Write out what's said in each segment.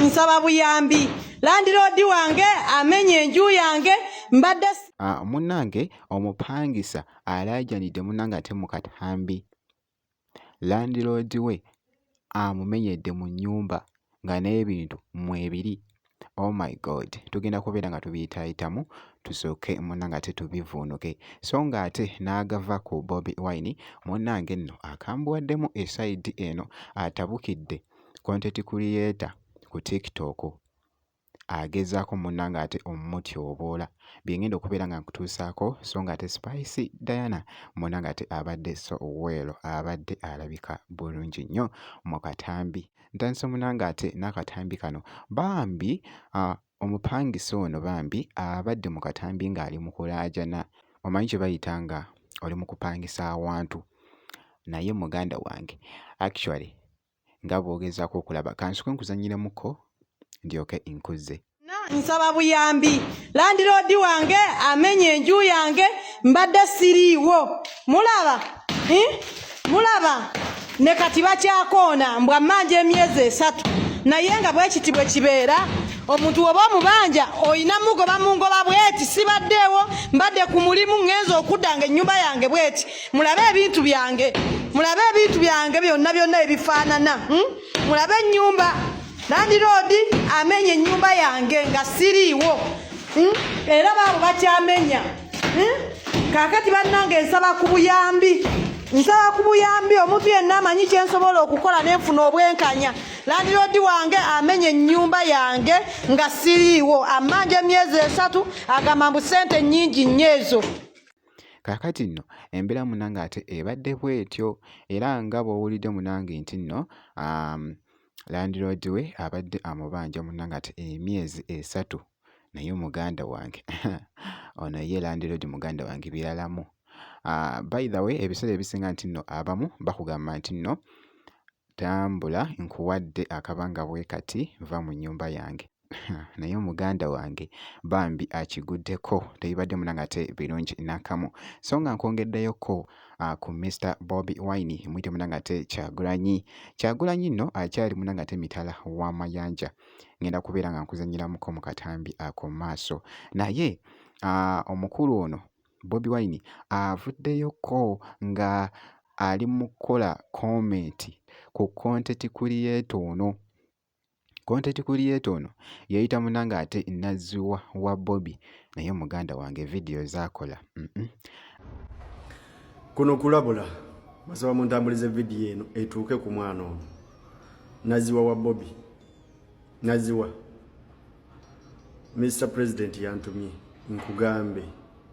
nsaba buyambi landiroodi wange amenya enju yange mbadde ah, munnange omupangisa alaajanidde munnange ate mu katambi landiroodi we amumenyedde mu nnyumba nga n'ebintu mwebiri oh my god tugenda kubeera nga tubiyitaayitamu tusooke munange ate tubivuunuke so nga ate n'agava ku bobi wine munange nno akambuwaddemu esaidi eno atabukidde konteti kuliyeta ku tiktok agezaako munange ate omutyoboola byengenda okubeera nga nkutuusaako so nga ate spice diana munange ate abadde so well abadde alabika bulungi nnyo mu katambi Ntandise munange ate n'akatambi kano bambi uh, omupangisa ono bambi abadde mu katambi ng'ali mu kulaajana omanyi kye bayita nga oli mu kupangisa awantu naye muganda wange actually nga bw'ogezaako okulaba kansuke nkuzanyiremuko ndyoke nkuzze nsaba buyambi landiroodi wange amenya enju yange mbadde siriiwo mulaba eh? mulaba ne kati bakyakoona mbwa mmanja emyezi esatu naye nga bwekiti bwe kibeera omuntu woba omubanja olina mugoba mungoba bweti sibaddeewo mbadde ku mulimu ŋŋenza okudda nga ennyumba yange bweti mulabe ebintu byange mulabe ebintu byange byonna byonna ebifaanana hmm? mulabe ennyumba landiroodi amenya ennyumba yange nga siriiwo hmm? era baabo bakyamenya hmm? kaakati bannange nsaba ku buyambi nsaba ku buyambi omuntu yenna amanyi kye nsobola okukola ne nfuna obwenkanya landiroodi wange amenya ennyumba yange nga siriiwo ammanja emyezi esatu agamba mbu ssente nnyingi nnyo ezo kaakati nno embeera munange ate ebadde bwetyo era nga bw'owulidde munange nti nno um, landiroodi we abadde amubanja munna ng'ate emyezi esatu naye muganda wange ono ye landiroodi muganda wange biralamu ah, by the way ebiseera ebisinga nti nno abamu bakugamba nti nno tambula nkuwadde akabanga bwe kati nva mu nnyumba yange naye omuganda wange bambi akiguddeko tebibadde munangate birungi nakamu so nga nkwongeddeyokko uh, ku Mr Bobi Wine mwite munangate kyagulanyi kyagulanyi nno akyali munangate mitala wa mayanja ngenda kubeera nga nkuzanyiramuko mu katambi ako maaso naye uh, omukulu ono Bobi Wine avuddeyokko uh, nga ali mu kukola komenti ku konteti kuliyetoono Content creator ono yeyita muna ng'ate nazziwa wa Bobi naye muganda wange vidiyo zaakola. Mm -mm. Kuno kulabula basaba mu ntambuliza vidiyo eno etuuke ku mwana ono naziwa wa bobi naziwa mr president yantumye nkugambe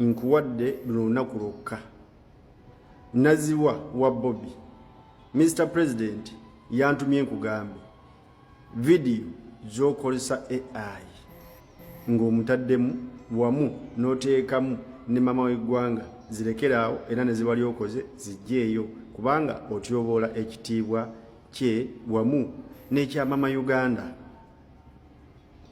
nkuwadde luno lunaku lwokka naziwa wa bobi mr president yantumye nkugambe vidiyo zokozesa ai ng'omutaddemu wamu n'oteekamu ne mama w'eggwanga zirekeraawo era ne ziba lyokoze zijjeeyo kubanga otyoboola ekitiibwa kye wamu n'ekyamama uganda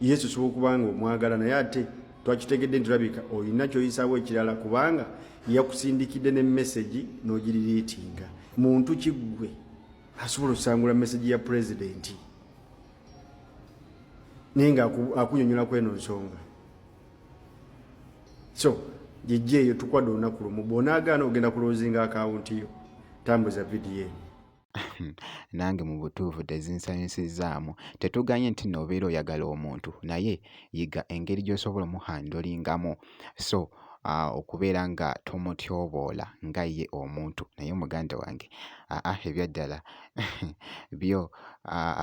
yesu osobola okuba nga omwagala naye ate twakitegedde nti olabika olina kyoyisaawo ekirala kubanga yakusindikidde ne mesegi n'ogiririitinga muntu kiggwe asobola okusangula mesegi ya pulezidenti naye nga akunyonyola kweno nsonga so jejje eyo tukwadde olunaku lumu bwonaagaana ogenda kulozinga akawunti yo tambuza vidiyo eno nange mu butuufu tezinsanyusizaamu. Tetugaanye nti no obeera oyagala omuntu naye yiga engeri gy'osobola omuhandolingamu so ah, okubeera nga tomutyoboola nga ye omuntu naye muganda wange aa ah, ah, ebyaddala byo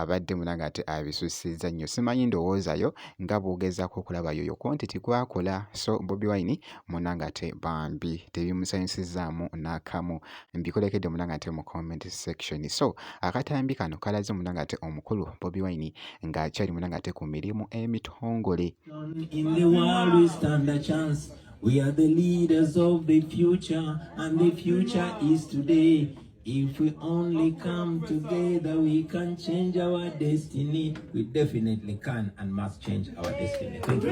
abadde munange ate abisussizza nnyo simanyi ndowoozayo nga bwogezako okulaba yoyo kontiti kwakola so bobi wine munange ate bambi tebimusanyusizaamu n'akamu mbikolekedde muna ngate mu comment section so akatambi kano kalaze muna ngate omukulu bobi wine nga akyali muna ngate ku mirimu emitongole in the world we stand a chance we are the leaders of the future and the future is today if we only come together we can change our destiny we definitely can and must change our destiny thank you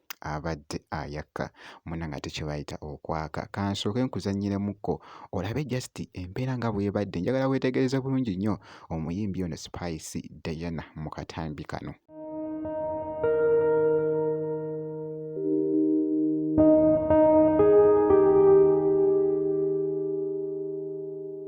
abadde ayaka muna ngate kyebayita okwaka kansooke nkuzanyiremuko olabe just embeera nga bwebadde njagala wetegereze bulungi nnyo omuyimbi ono spice diana mu katambi kano